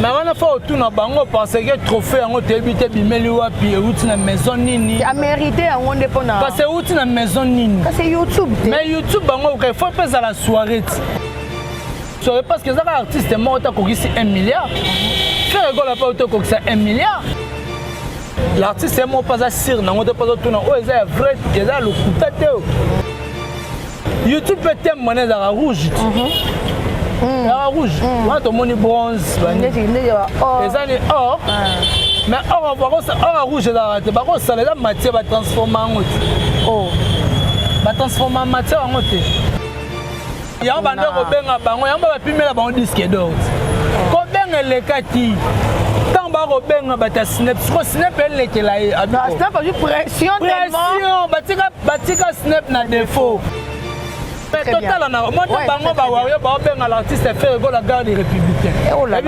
na wana fa otuna bango penseke trophée yango toyebi te bimeli wapi euti na maison nini amerite yango nde mpona kasi euti na maison nini kasi youtube te mais youtube bango okai fo mpe ezala soirée ti soki parce que eza kaka artiste moko te akokisi 1 milliard frère ekola mpe oto okokisa 1 milliard l'artiste ye moko mpe aza sire nango te mpe azotuna oyo eza ya vrai eza ya lokuta te youtube mpe teme mwana ezalaka rouge ti mhm. mm. ezalaka rouge mm. wana tomoni bronze eza ni or ah. mais or or ya rouge ezalaka te bakosala eza matière batransforma yango te oh. batransforma matière yango te yango banda kobenga bango yango bapimela bango diske dort kobenga elekaki ntango bakobenga bato ya snep siko snep elekela ye pression batika snep na defaut totala na mona bango bawario baobenga l'artiste ferre gola garde républicain eh, oh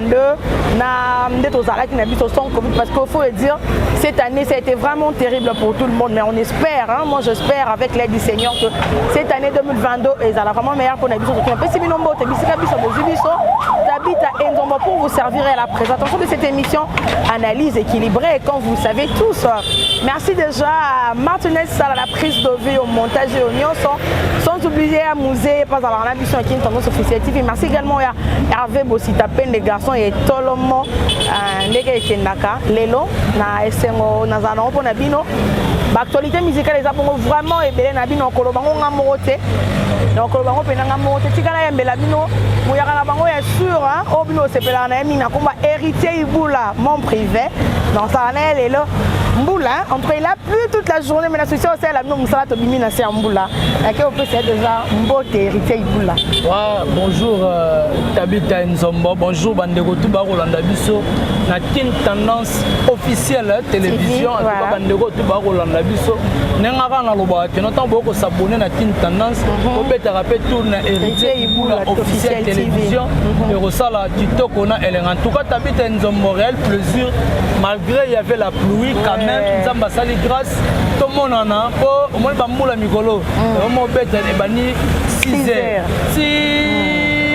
2022 na nde tozalaki na biso sans covid parce qu'il faut le dire cette année ça a été vraiment terrible pour tout le monde mais on espère hein, moi j'espère avec l'aide du seigneur que cette année 2022 ezala vraiment meilleur mpona biso toki napesi bino mbote bisika biso bozwi biso tabita enzombo pour vous servir à la présentation de cette émission analyse équilibrée quand vous savez tous merci déjà à martinez sala la prise de vue au montage et au nyonso sans oublier à musée pas à la biso ya kintango sophicie tv merci également ya Ve bosita pende garçon ya etolomo euh, ndenge ekendaka lelo na esengo nazala nango mpo na bino baactualité musicale eza bongo vraiment ebele na bino okoloba ngo nga moko te na okoloba ngo mpenza nga moko te tika nayembela bino moyaka na bango ya sur oyo bino osepelaka na ye mingi na nkomba héritier ibula mon privé nasala na ye lelo mbula en tout cas il a plu toute la journée mais na souci osalela bino mosala tobimi na se ya mbula yake opesa ye deja mbote héritier ibula Bonjour euh, Tabitha Nzombo, bonjour bandeko tout bakolanda biso na Kin Tendance officielle hein, télévision en tout cas bandeko tout bakolanda biso ndenge kaka nalobaka kino ntango boyoko s'abonner na Kin Tendance mhm. obetaka mpe tour na héritier ibula officielle télévision mhm. ekosala kitoko na elenga en tout cas Tabitha Nzombo réel plaisir malgré il y avait la pluie quand même Nzambe asali grâce tomonana mpo omoni bambula mikolo omobeta ebandi 6 heures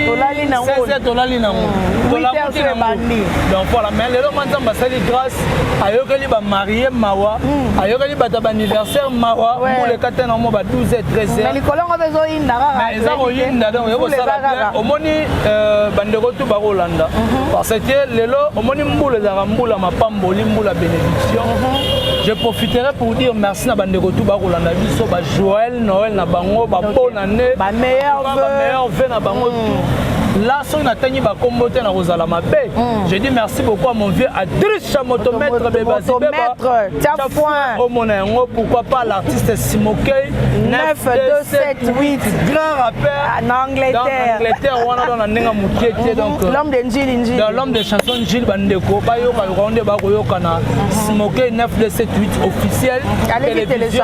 tolali na ngo tolali na ngo tolamuki na ngo donc voilà mais lelo mwa nzambe asali grâce ayokeli bamarie mawa hmm. ayokeli bato ya baanniversaire mawa mbula ekate na mo ba 12 et 13 heures likolo ngo mpe ezoyinda kaka eza koyinda donc yo kosala bien omoni euh, bandeko tu bakolanda mhm. parce que lelo omoni mbula ezalaka mbula mapamboli mbula bénédiction mhm. je profiterai pour dire merci na bandeko tu bakolanda biso ba joël noël na bango babona nde ba meilleurs vœux ba meilleurs vœux na bango mm. tout là soki natangi bakombo te nakozala mabe mm. je dis merci beaucoup à mon vieux adriche motomètre bebasibebaomona oh, yango pourquoi pas l'artiste simokei 9278 grand rappeur ah, na angleterre angleterre wana don na ndenge ya moke te mhm. donc euh, l'homme de njili njili dans l'homme de chanson njili bandeko bayoka yoka nde bakoyokana mhm. simokei 9278 officiel télévision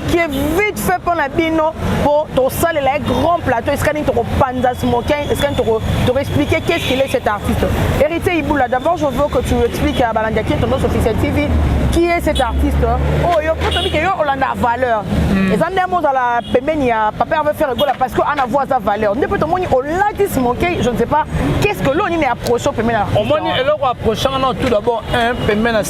qui est vite fait mpo na bino mpo tosalela ye grand plateau esika nini tokopanza smokin esika nini tokoexplike toko qu'est-ce qu'il est cet artiste héritier iboula d'abord je veux que tu expliques à balandi ya kie tendance officiel tv qui est cet artiste oyo mpo tobi ke yo olanda valeur hmm. eza nde mozala pembeni ya papa herve faire egola parce que ana voix aza valeur nde mpe tomoni olati smokin je ne sais pas qu'est-ce que lo nini approche pembeni ya omoni eloko approche wana tout d'abord un pembeni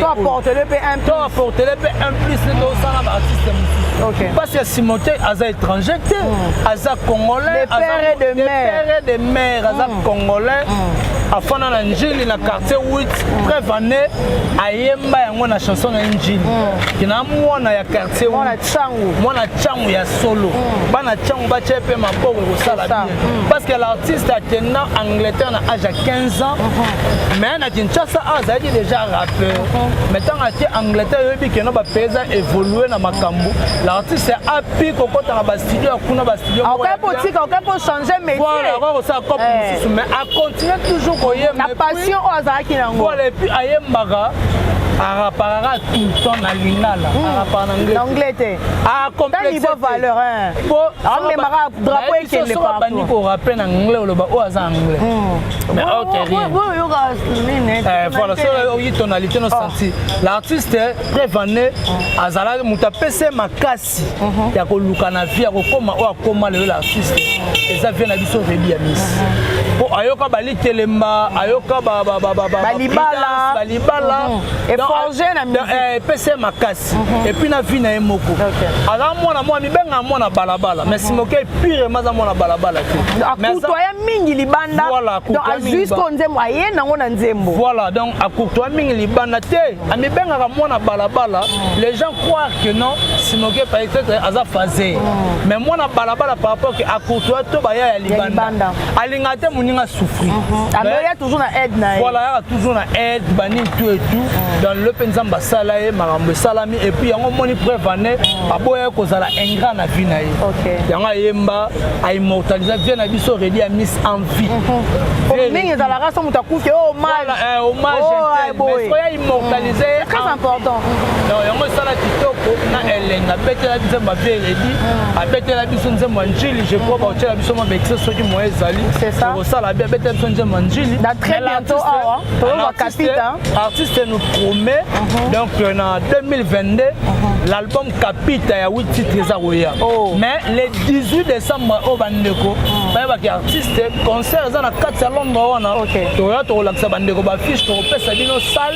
to apportele mpe un to apportele mpe un plus nde tosala ba artiste mosusu mpasi ya simote aza étranger te hmm. aza congolais père de mère aza hmm. congolais hmm. afanda na njili na quartier 8 preuve ane ayemba yango na chanson na ye njili kina mwana ya quartier mwana cangu ya solo bana cangu batya mpe maboko ekosala mm. parce que l'artiste akenda angleterre na age ya 15 ans mm-hmm. mais na kinshasa awa azalaki déjà rappeur mm-hmm. mais ntango ake angleterre yoyebi keno bapays eza évolue na makambo l'artiste api kokota na bastudio ya kuna bastudio okai kotika okai kochange métier okai kosala cop eh. mosusu mais acontinue toujours koyemba na passion oyo azalaki nango voilà epuis ayembaka araparaka tout le temps na lingala hmm. arapara na anglais te Ah, complexe ba valeur hein. Bo ah, mais mara drapeau et qu'elle pas. Bandi ko rappeler na anglais oloba o oh, aza anglais. Hmm. Mais oh, ok rien. Bo yo ga nene. Eh voilà, so o yi tonalité no oh. senti. L'artiste prévané hmm. azala muta pese makasi hmm. ya ko luka na vie ya ko koma o akoma le l'artiste. Eza vie na biso rebi ya miss. Po ayoka bali telemba, ayoka ba ba ba ba ba. Balibala, balibala. Et forger na musique. Eh pese makasi. basi mhm. epuis na vie na ye moko aza mwana mwana mibengaka mwana balabala mais mhm. simokei pire ma aza mwana balabala te akoutwaya mingi libanda donc azwi siko nzembo aye nango na nzembo voilà donc akoutwaya mingi libanda te amibengaka mwana balabala mhm. les gens croire que non simokei peut-être aza phase mais mwana balabala par rapport que akoutwaya to baya ya libanda alingaka te moninga souffrir mhm. ameya toujours na aide na ye voilà yaka toujours na aide banini tout et tout mhm. dans le mpe nzambe asala ye makambo esalami et puis yango omoni preuve ane mhm. aboya kozala ingrat na vie na ye yango ayemba aimmortalisa vie na biso redi ya miss en vie mingi ezalaka so moto akufi hommage oya immortalise ye très important yango esala kitoko na elenga abetela biso mabie redi abetela biso nzembo ya njili je crois ba otela biso ma bexe soki moyen ezali ko sala bien beta biso nzembo njili da très bientôt awa to ba capita artiste nous promet mhm. donc euh, na 2022 mhm. l'album capita ya 8 titres eza koya oh. mais le 18 décembre oyo oh, bandeko mhm. bayebaki artiste concert eza na kati ya londres wana toya tokolakisa bandeko bafiche tokopesa bino sale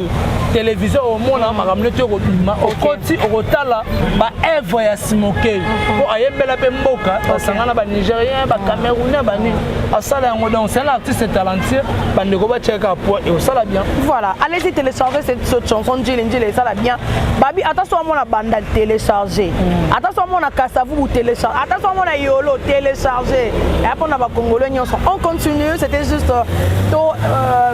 televizio omona makambo neti okobima okoti okotala baevre ya simokei mpo mhm. ayembela mpe mboka basangana banigérien bacamerounais banini asala yango donc c'est un artiste talentueux bandeko batiaka poids et osala bien voilà allez-y télécharger cette, cette chanson njili njili esala bien babi ata so amona banda télécharger mhm. ata so amona kasavubu télécharger ata so amona yolo télécharger eya mpona bakongolo nyonso on continue c'était juste euh, to euh,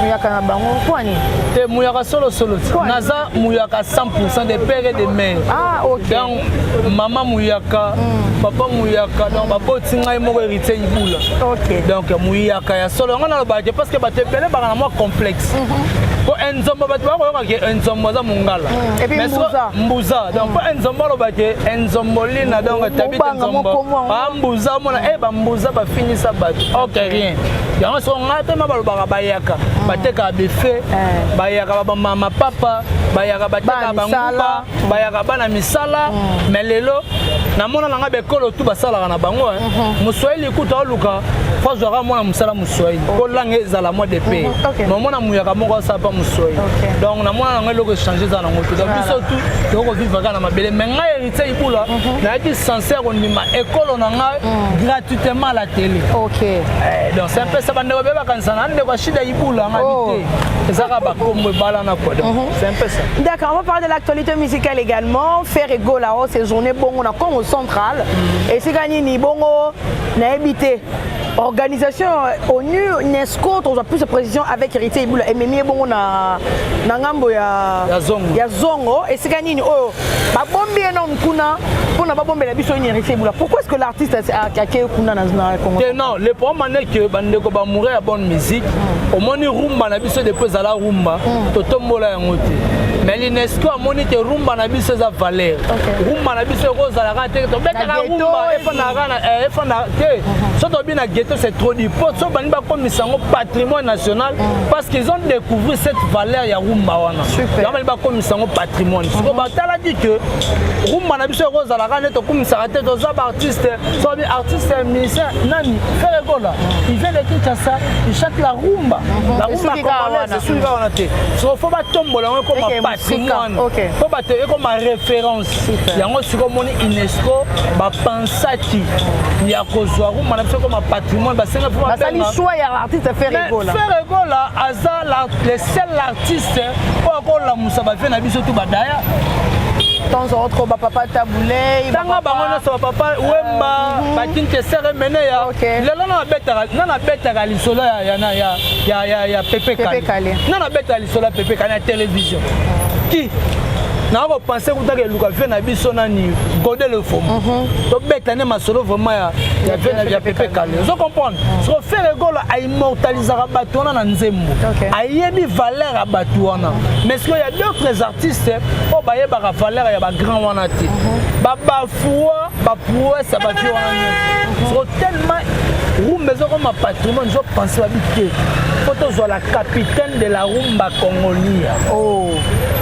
muyaka na bango mpo nini te muyaka solo solo naza muyaka 100% de père et de mère ah, okay. donc mama muyaka mm. papa muyaka donc baboti ngai moko héritier ibula okay. donc muyaka ya solo yango nalobaka te parce que bato ebele baka na mwa complexe mm -hmm. mpo enzomba bato bakoyoka ke enzombo aza mongala mm, mbuza donc mpo mm. enzombo aloba ke enzombolina donc tabita enzombo bambuza omona e eh, bambuza bafinisa bato ok rien yango soko ngai mpe ma balobaka bayaka mm. batekaka bife eh. bayaka bamama papa bayaka batekaka banguba mm. bayaka bana misala mm. me lelo namona na ngai bekolo tu basalaka na bango eh. mm-hmm. moswahili kutu aoluka fo azwaka mwana mosala moswahili mpo oh. langa ezala mwa de pe mm-hmm. mamona muyaka moko asala mpa moswahili donc namona na ngai eloko echange eza nango te donc biso tu tokoki kovivaka na mabele me ngai Tia Ibula, mhm. nayaki sincère kondima ekolo na ngai mhm. gratuitement à la télé. Ok. Eh, donc c'est un peu ça bande ba beba kanisa na ndeko shida Ibula ngai oh. te. Ezaka ba kombo bala na quoi. Mhm. C'est un peu ça. D'accord, on va parler de l'actualité musicale également. Faire ego la hausse journée bongo na Congo central. Et c'est gagné ni bongo na habité. organisation euh, onu unesco tozwa plus de précision avec héritier ibula ememi ye bongo na ngambo ya zongo esika nini oyo babombi ye nom kuna mpona babombela biso une héritier bula pourquoi est-ce que l'artiste akei kuna na congo te non le problème ane que bandeko bamoureux ya bonne musique mm. omoni rumba na biso depuis ezala rumba mm. totombola yango te mais l'unesco amoni te rumba na biso eza valeur rumba na biso ekozalaka te tobetaka rumba efandaka eh, te mm-hmm. so tobi na ghetto c'est trop du po so bandi bakomisa yango patrimoine national mm. parce qu'ils ont découvrir cette valeur ya rumba wana yango bandi bakomisa yango patrimoine mhm. siko batalaki ke rumba na biso ekozalaka nde tokumisaka te toza baartiste sobi artiste musicien nani fere gola il vient de kinshasa il chante la rumba mhm. la rumba congolaise esuika wana te siko fo batombola yango ekoma patrimoine mpo bato ekoma référence yango siko omoni unesco bapansaki ya kozwa rumba na biso ekoma patrimoine basenga fo basali choix ya artiste fere gola fere gola aza le seul artiste oyo akolamusa bavie na biso tu badaya temps en autre bapapa tabulei tanga bango nyonso bapapa euh, wemba mhm. bakinkesere mene ya lelo na nabetaka lisolo ya pepe kale na nabetaka lisolo ya pepe kale ya télévision ki naa kopense kutaka eluka vie na biso nani gode le fomo mhm. tobeta nde masolo vraiment ya vie ya pepe kale ozo comprendre mhm. soko fere golo immortalisaka bato wana na nzembo okay. ayebi valeur ya bato wana mais sikoyo ya d'autres artistes oyo bayebaka valeur ya bagrand wana te mm -hmm. babafua baprouesse ya bavie wana nyonso siko tellement rumba ezokoma patrimoine ezopense babi te mpo tozwa la capitaine de la rumba congolia oh.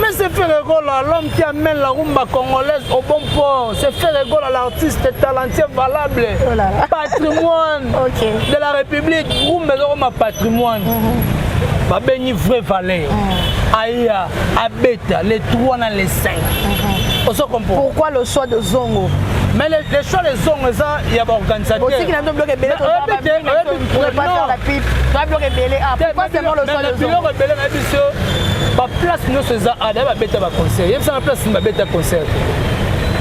mais c'est ferregola l'homme qui amène la rumba congolaise au bon port c'est ferregola l'artiste talentueux valable oh patrimoine okay. de la république rumba ezokoma patrimoine mm -hmm. babengi vrai valeur mm -hmm. aya abeta le 3 na le 5 mm -hmm. ozo comprendre pourquoi le choix de zongo mais les, les choix les zongo eza ya baorganisateur otiki na biloko ebele na biso baplace nyonso eza ada babeta baconcert yebisa na place babeta concert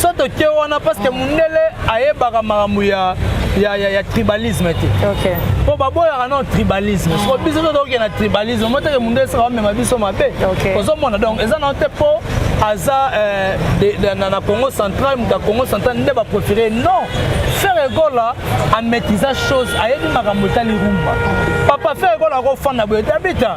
so toke wana parce que mundele ayebaka makambo ya ya, ya, ya tribalisme te okay. mpo baboyaka no tribalisme ah. soko biso totoke na tribalisme moteke mundu esaka bamema biso mabe okay. ozomona donc eza nao te mpo aza euh, de, de, na, na congo central moto ya congo central nde baprofere non ferre gola amaîtrisa chose ayebi makambo etali rumba papa ferre gola akofanda boye te abita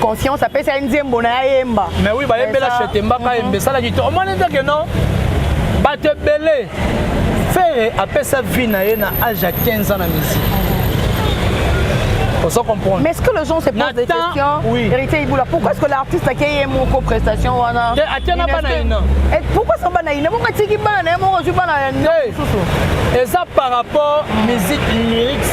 conscience apesi ye nzembo na ye ayemba mais oui bayembela chete mbaka mhm. yemba esalaki to omoni te ke non bato ebele fere apesa vie na ye na age ya 15 ans na musique ozo comprendre mais est-ce que les gens se posent des questions oui. héritier ibula pourquoi est-ce que l'artiste ake ye moko prestation wana atia na bana ina pourquoi sa bana ina moko atiki bana na ye moko ozwi bana ya mosusu eza par rapport musique lyrics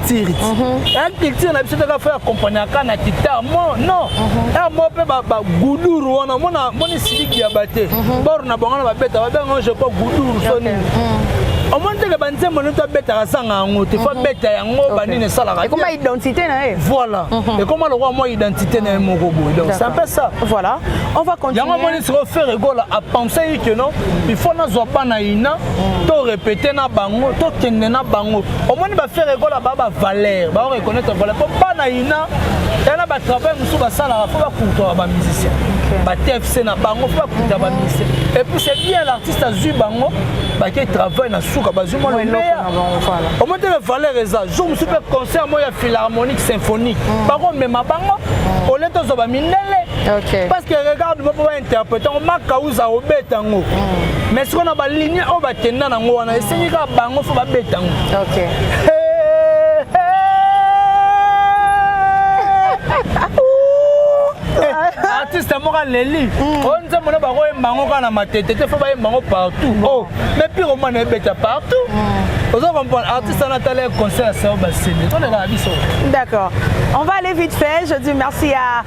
culture ti ya mhm. culture na biso toka fo accompagnaka na kita mo non mhm. ya mo mpe baguduru wana mona moni siliki ya bate mhm. bor na bango na babeta babenga je crois guduru so nini omoni teke banzembo nini tobetaka zanga yango te fo abeta yango banini esalaka ekoma identité na ye voilà ekoma lokola mwa identité na ye moko boye donc c'est un peu ça voilà on va continuer yango omoni sikoyo ferre gola apensaki que non il faut nazwa bana ina to répéter na bango tokende na bango omoni ba ferre gola ba ba valeur ba reconnaître valeur po bana ina tala ba travail mosusu basalaka fo bakultaka ba musicien ba tfc na bango fo bakultaka ba musicien et puis c'est bien l'artiste azwi bango bake travail na suka bazwi mwa lomeya omoni te valeur eza jour mosusu mpe concert moko ya philharmonique symphonique mm. bakomema bango mm. olete ozwa ba mindele parce que regarde interprete yango makauza obeta yango mm. mais sikoyo na balinie oyo bakenda nango wana esengi kaka bango fo babeta yango okay. artiste moko aleli mm. oyo nzembo na bakoyemba yango kaka na matete te fo bayemba yango partout o oh, mais pire omana ebeta partout mm. ozo comprendre artiste wana atala concert ya sao basende tolekaka biso d'accord on va aller vite fait je dis merci à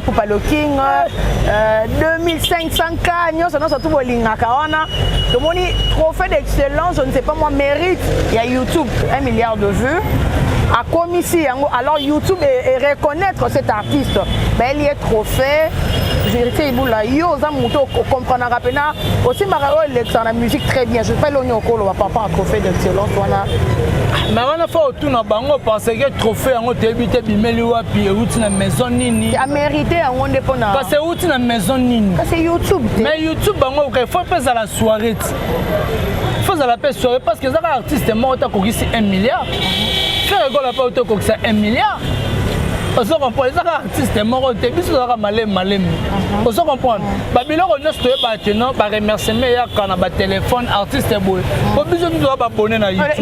Pupa le King, euh, 2500 cas, nyonso nyonso tu bolingaka wana tomoni trophée d'excellence, je ne sais pas moi, mérite ya YouTube 1 milliard de vues akomisi yango alors youtube e, e reconnaître cet artiste baeli ye trophée verité ibula yo oza moto okomprenaka mpena osimbaka oyo elekisaka na musique très bien je pas elongi okoloba papa trophée d'excellence wana ma wana fo tuna bango pense ke trophée yango toyebi te bimeli wapi euti na maison nini amerite yango nde mpona kasi euti na maison nini kasi youtube te mais youtube bango oka faut mpe ezala soirée ti faut ezala mpe soirée parce que eza kaka artiste moko te akokisi 1 milliard frère egola mpe oto okokisa 1 milliard ozo comprendre eza kaka artiste moko te biso tozalaka malemi malemi uh-huh. ozo comprendre uh-huh. babiloko nyonso toyeba te non baremerciement eyaka na batelefone artiste boye uh-huh. po biso nini toza babone na youtube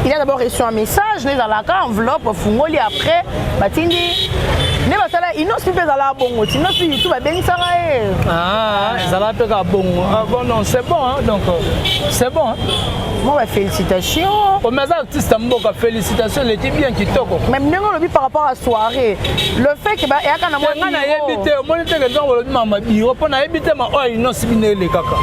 il a d'abord reçu un message no ezalaka enveloppe ofungoli après batindi nde basala inosi mpe ezalaka bongo ti inosi youtube abengisaka ye ah, ezalaka mpe kaka bongo ah, bon non c'est bon donc c'est bon Moi, bah, félicitations. Oh, mais artiste mboka, félicitations, il était bien kitoko. Mais ndenge olobi par rapport à soirée, le fait que ba yaka na mwa na yebite, omoni te que ndenge olobi mama biro, po na yebite ma oyo non sibi ne le kaka.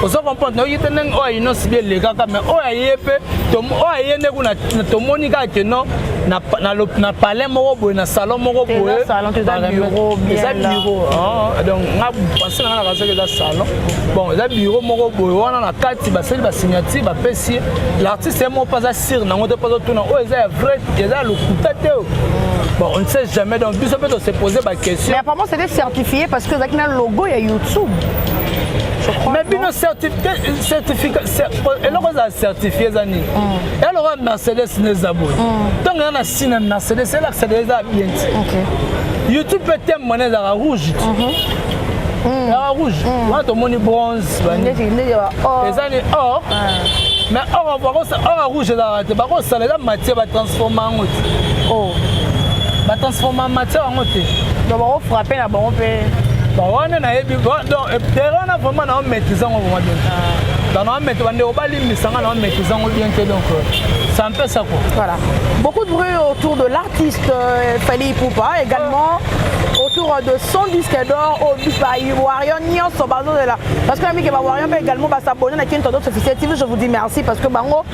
Ozo comprendre, na yebite ndenge oyo non sibi le kaka, mais oyo ayepe, to oyo ayende kuna tomoni kaka que non na na na palais moko boye na salon moko boye. Eza bureau, eza bureau. Ah, donc nga penser na nga na kaza que eza salon. bon eza biro moko boye wana na kati basali basignature bapesi ye l'artiste ye moko mpe aza sire nango te mpe azotuna oyo eza ya vrai eza ya lokuta te Bon, on ne sait jamais, donc nous on se poser ma question. Mais apparemment c'était certifié parce que Zakina logo ya YouTube. mais bino eloko eza certifie eza nini mm. eloko ya mercedes na eza boye ntango mm. eza na si na mercedes elakisa eza bien ti youtube mpe teme mwana ezalaka rouge ti mhm. mm. ya rouge mm. wana tomoni bronze eza ni or mais or bakosala rouge ezalaka te bakosala eza matière batransforme yango te oh. batransforme matière yango te donc bakofrappe na bango mpe bawana nayebi tere wana vraiment nao maîtrise yango vraimen bien ah. donc nao maîtrise bandeko balimbisa nga nao maîtrise yango bien te donc euh, ça me pesa quoi voilà beaucoup de bruit autour de l'artiste euh, Fally Poupa également ah. autour de 100 disques d'or au Dubaï, Warrior, Nyonso, Bazo de là. Parce que ami que ba Warrior mais également ba s'abonner na King Todos officiel TV, je vous dis merci parce que bango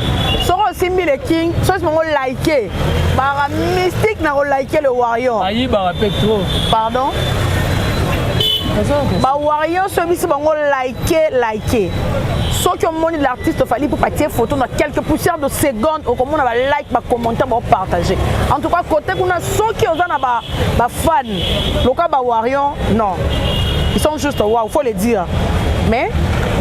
soko simbi le King, soit bango liker. Bara mystique na ko liker le Warrior. Ayi bara pe trop. Pardon. Ba Warrior so bisi bango liker, liker. soki omoni l'artiste ofali mpo batie photo na quelques poussières de seconde okomona balike bacommentaire baopartage en tout cas kote kuna soki oza na ba ba fan loka ba warrior non ils sont juste waouh faut le dire mais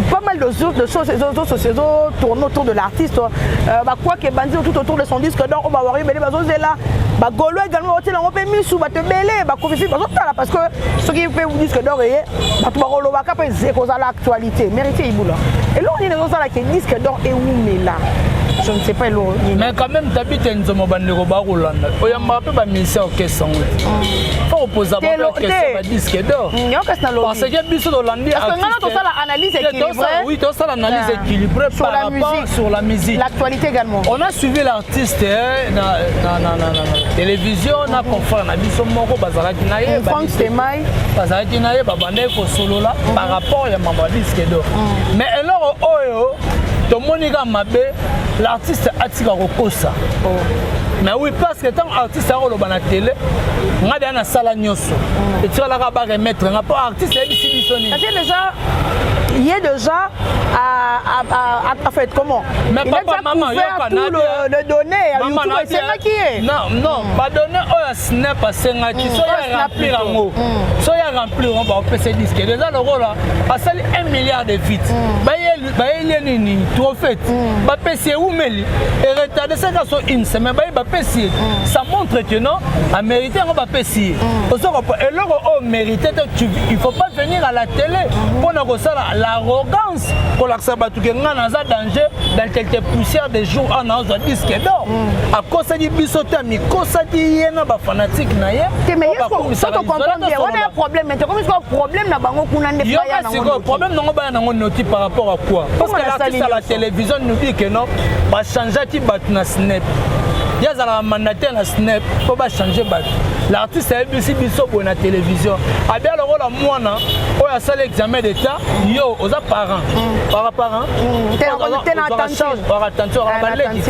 pas mal de, de choses ezo tourne autour de l'artiste euh, bakwa ke bandi tout autour de son disque donc oyo bawari ebele bazozela bagolo également baotiela yango mpe misu bato ebele bakofifi bazotala parce que soki mpe disque dor eye bato bakolobaka mpe ekozala actualité te merite ibula eloko nini ezosala ke disque dor ewumela je ne sais pas eloko nini mais quand même tabita nzomo bandeko bakolanda oyambaka mpe bamusicien orchestre yango te fo kopoza baorchestre badisque dor parce que biso tolandi tosala analyse équilibrée oui tosala analyse équilibrée par rapport sur la musique l'actualité également on a suivi l'artiste artiste eh, na, na, na, na, na, na televizio na confrère na biso moko bazalaki na ye bazalaki na ye babandaki kosolola mm. par rapport ya mambo ya disque do mm. mais eloko oyo tomoni kaka mabe l'artiste atika kokosa oh. mais oui parce que ntango artiste akoloba na tele ngai deya nasala nyonso mm. etikalaka ba remettre nga mpo artiste ayebisi biso nini ye déjà a, a, a, a fait comment Mais il papa, maman, a couvert tout le, le donné ya maman, YouTube esengaki ye. Non, non, mm. ba donné oyo oh, Snap asengaki, mm. so ya remplir yango. Mm. So ya remplir yango ba opesa disque. Déjà lokola asali 1 milliard de feet. Mm. Ba ye ba ye lié nini? Trophée. Mm. Ba pesi umeli et retardé ça ka so une semaine ba ye ba pesi. Mm. Ça montre que non, a mérité yango ba pesi. Mm. Ozo ko eloko o oh, mérité il faut pas venir à la télé mm. pour na ko sala l'arrogance kolakisa bato ke ngai naza danger dans quelque poussière de jour ana azwa disque d'or mm. akosaki biso te amikosaki ye na bafanatike na ye sikoyo problème nango baya nango noti par rapport à quoi parce que l'artiste à la télévision nous dit que non bachangeaki bato na snep ye azalaka mandataire na snep mpo bachange bato l'artiste ayebisi biso boye na télévision abia lokola mwana oyo asali examen d'état yo oza parent mm. para parent attention baleki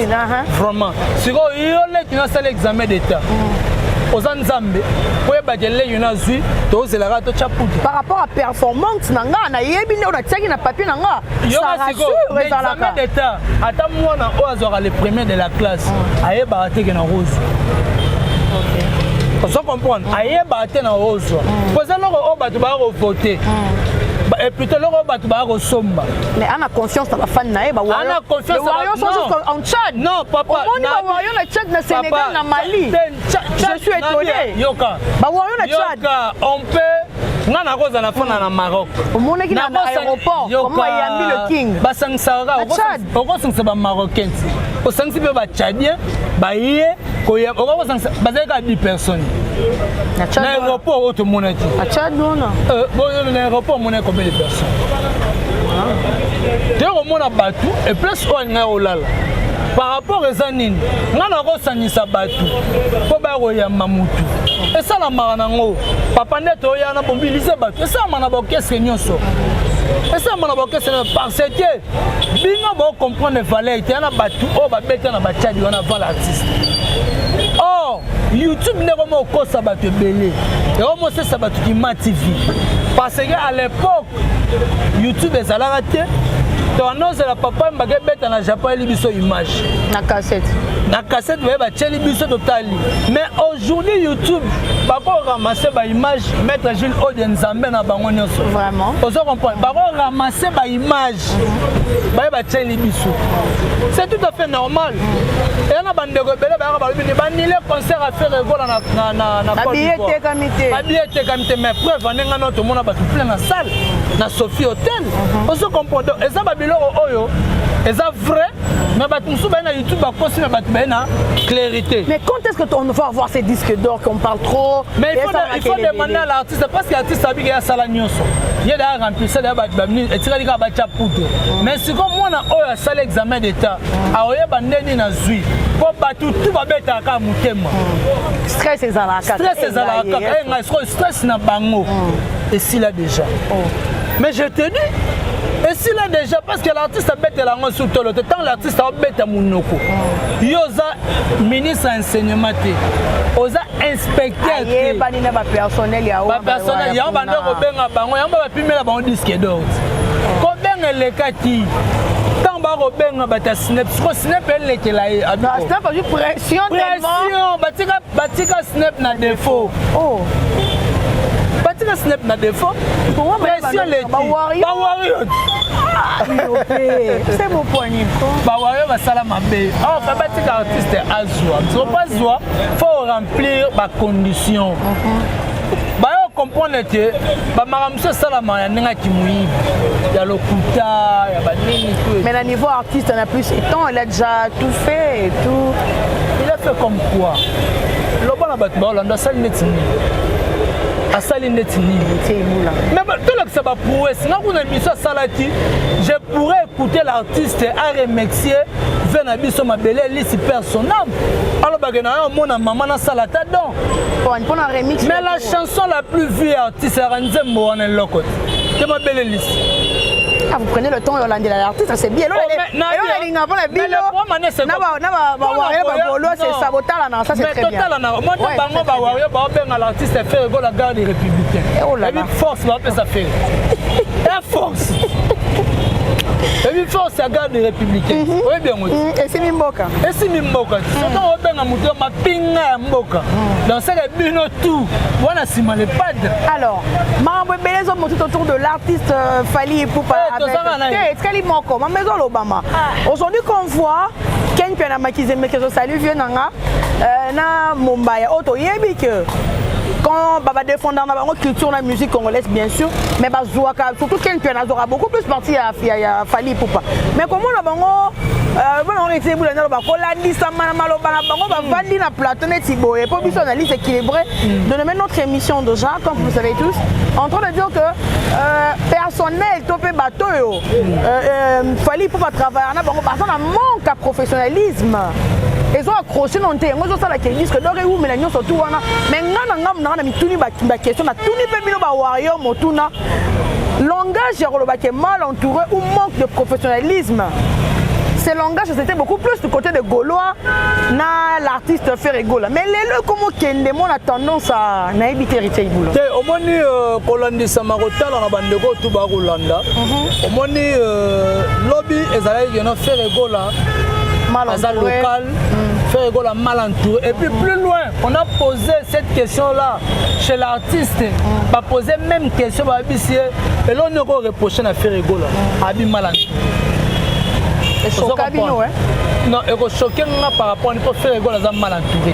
vraiment sikoyo yo leki nasala examen d'état mm. oza nzambe koyebaka eleki nazwi tozelaka totya putu par rapport à performance na nga nayebi nde oyo natiaki na papier na nga examen d'état ata mwana oyo azwaka le premier de la classe mm. ayebaka teke na rose ozo comprendre ayebaka te na rose poza loko oyo bato baya kovote et plutôt loko bato baya kosomba mais ana confiance na bafani na ye baana confiance en tchad non papa omoni bawayo na tchad na sénégal na mali je suis étonné yoka bawayo na tchad yoka on peut nga nakozala na fana na maroc omonaki na aéroport comme ayambi le king basangisaka okosangisa bamarocains osangisi mpe bachadien baye koya okoki kosangisa bazali kaka 10 personnes na aéroport oyo tomonaki euh, na aéroport omonaki combien de personnes ah. te komona bato eplace oyo alingaki kolala par rapport eza nini ngai nakosangisa bato mpo baya koyamba motu esalamaka nango papa nde toya na mobilize bato esalama na baorkestre nyonso esalama na baorkestre parce que bino bo comprendre valeur te na batu oyo babeta na bachadi wana vala artiste or youtube nde ekoma okosa bato ebele ekoma osesa bato kima tv parce que à l'époque youtube ezalaka te towana ozela papa mbaka ebeta na japon eli biso image na cassette na cassette baye batieli biso totali mais aujourd'hui youtube bakoramase baimage maître jules ode nzambe na bango nyonso vraiment ozo comprendre bakoramase mage baye batieli biso c'est tout à fait normal eya na bandeko ebele bayaka balobi nde banile concert ya fere egola nababiye etekami te babiye etekami te mais preuve ande ngai nao tomona bato plein na salle na sophie hotel mhm. ozo comprendre eza babiloko oyo eza vrai mais bato mosusu baye na youtube bakosi na bato baye na clarité mais quand est ce que on va avoir ces disques d'or qu'on parle trop mais il faut, il faut demander à c'est parce que artiste abiki ya sala nyonso ye da remplacer da ba minute etikali ka ba cha puto mais siko mwana oyo asala examen d'état aoyeba ndeni na zui po bato tu babetaka kaka motema stress ezalaka stress ezalaka kaka eh, ngai sikoyo stress na bango mm. esila déjà oh. mais je te dis esila déjà parce que l'artiste abetela yango su tolo te ntango l'artiste aobeta monoko mm. yo oza ministre ya enseignement te oza inspecteur ayebani na bapersonnel ya bapersonnel yango banda kobenga bango yango bapimela bango diske dort kobenga elekaki bakobenga bato ya snep siko snep elekela ye pression batika snep na defaut oh. batika snep na defaut pression leki bawario bawario basala mabe awa ah, batika artiste azwa soko azwa faut remplir ba conditions mm -hmm. bayo comprendre te bamaka mosusu esalama ya ndenge ya kimoyibi ya lokuta ya banini mais na niveau artiste na plus étant elle a déjà tout fait et tout il a fait comme quoi loba na bato baolanda asali neti nini asali neti ninitolakisa baprouesse nga kuna miso asalaki je pourrais écouter l'artiste a remercier vie na biso mabele elisi père son âme alobake na yo omona mama nasala ata don mais la chanson la plus vue artiste yaka nzembo wana eloko te te mabele elisi Ah, vous prenez le temps de l'anglais l'artiste, c'est bien. Elolinga mpona bino na bawario babolo sesa botalana ça c'est très bien monte bango bawario baobenga l'artiste fere gola garde républicain ebi force baopesa fere force ebi force ya garde républicaine mhm. oyebi yango mhm. esimi mboka esimi mboka mhm. soki obenga moto ya mapinga ya mboka dansaka bino tout wana nsima le padre alors makambo ebele ezomotit autour de l'artiste euh, fali epupa eh, etikali moko mama ezolobama ah. aujourd'hui qu'on voit ken mpe na makizemeke ezosali vieux na nga euh, na mombaya oyo toyebi ke quand baba défendant na bango culture na musique congolaise bien sûr mais bazwaka surtout ken mpiana azwaka beaucoup plus parti ya, ya, ya fali pupa mais komona bango euh, bana bango etie bula naloba kolandisama na maloba na bango bavandi na plateau neti boye mpo biso analyse équilibré mm. de nommer notre émission déjà comme vous savez tous en train de dire que euh, personnel to mpe bato oyo euh, euh, fali mpo batravailleur na bango baza na manque ya professionnalisme ezo accroche na nte yango ezosala ke disque dor ewumela nyonso tu wana me ngai na ngai nanga na mituni baquestion natuni mpe bino bawario motuna langage ya koloba ke mal entouré ou manque de professionnalisme ce langage c'était beaucoup plus du côté de gaulois na l'artiste ferre gola mais lelo ekomokende mona tendance à nayebi te heritier ibulo te omoni euh, kolandisama kotala na bandeko oyo tu bakolanda mhm. omoni euh, lobi ezalaki keno fere gola aza local mm. fere gola mal entouré et puis plus loin on a posé cette question là chez l'artiste mm. bapose même question bayebisi ye eloko nini okoreproche na fere gola mm. abi mal entouré esoka bino non ekosoke nga par rapport nipo fere gola aza mal entouré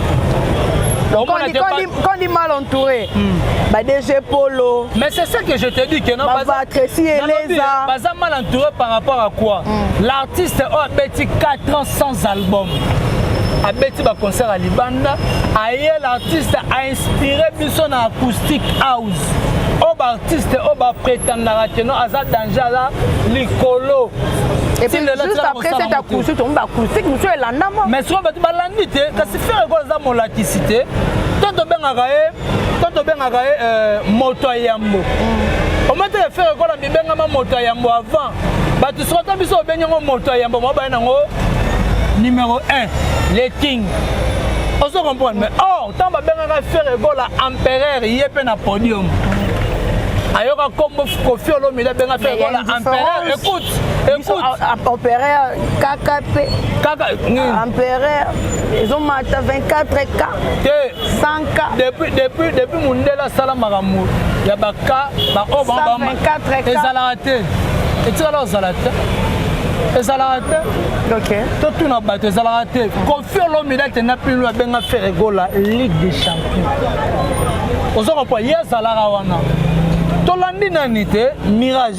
te quand dit mal entouré hmm. ba DG Polo mais c'est ça que je te dis que non baza Tracy Eleza baza mal entouré par rapport à quoi hmm. l'artiste oh, a petit 4 ans sans album abeti baconcert ya libanda aye l'artiste ainspire biso na acoustique house oyo baartiste oyo bapretendaka keno aza danger aza likolo mais soki bato balandi te kasi ferre gola aza molakisi te to tobengaka ye to tobengaka ye euh, moto ya yambo mm. ometele ferre gola mibengama moto ya yambo avant bato soko ata biso obengi yango moto ya yambo mwa baye nango numéro 1 le king ozo comprendre mais or ntango babengaka ferre gola empereur ye mpe na podium ayoka nkombo kofi olomide abenga ferre gola empereur écoute empereur kaka mpe empereur ezomata 24 k 100 k depuis mondele asala makambo ya baka baoyo bango ezalaka te etikala kozala te ezalaka te okay. totuna bato ezalaka te kofi olomide akenda pino abenga feregola ligue de champion oza kopwa ye azalaka wana tolandi nani te mirage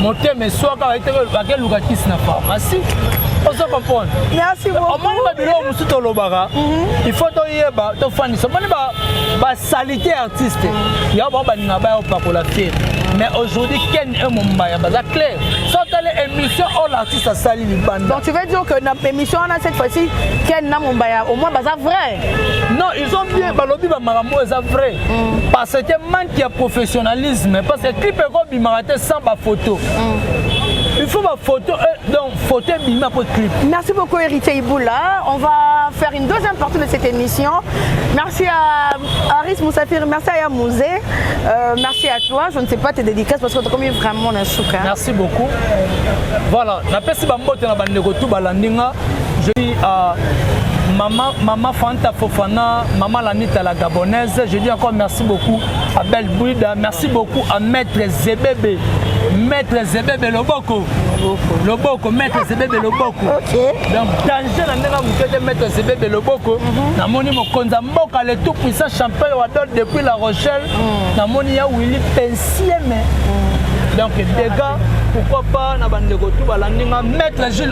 motema eswaka bakeluka kisi na pharmacie ozo comprendre omoni babiloko mosusu tolobaka mhm. il faut toyeba tofandisa omoni basalite ya artiste yango bango balinga baya opakola te mais aujourd'hui ken e mombaya baza claire sotali émission oyo l'artiste asali libanda donc tu veux dire que na émission wana cette fois-ci ken na mombaya au moins baza vrai non ezobie balobi bamakambo eza vrai mm. parce que manque ya professionnalisme parce que clip ekobimaka te sans bafoto mm. il faut bafoto euh, donc foto ebima po clip merci beaucoup héritier iboula on va faire une deuxième partie de cette émission merci à aris moussafir merci à yamouze euh, merci à toi je ne sais pas tes dédicaces parce que tokomi vraiment na suka merci beaucoup voilà napesi bambote na bandeko tu balandi nga Je dis à maman, maman Fanta Fofana, maman Lanita la Gabonaise, je dis encore merci beaucoup à Belle Bouida, merci beaucoup à Maître Zebebe, Maître Zebebe Loboko, Loboko, Maître Zebebe Loboko. Okay. Donc danger na ndenge mokete Maître Zebebe Loboko, mhm. namoni mokonza mboka le tout puissant champion wa dot depuis La Rochelle, mhm. namoni ya Willy Pensieme. Mhm. Donc dégâts, pourquoi pas na bandeko tout balandi nga Maître Gilles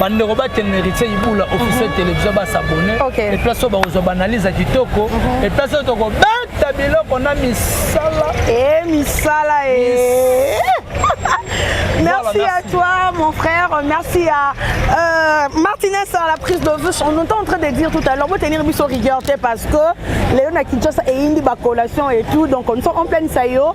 bandeko batele na héritier ibula officiel mhm. télévision basabone eplace oyo bakozwa baanalyse ya kitoko mhm. eplace oyo tokobeta biloko na misala e misala e Merci à toi, mon frère. Merci à euh, Martinez à la prise de vue. On est en train de dire tout à l'heure, vous tenir mis au rigueur parce que Léon a Kinshasa et Indi, collation et tout. Donc, on est en pleine saillot.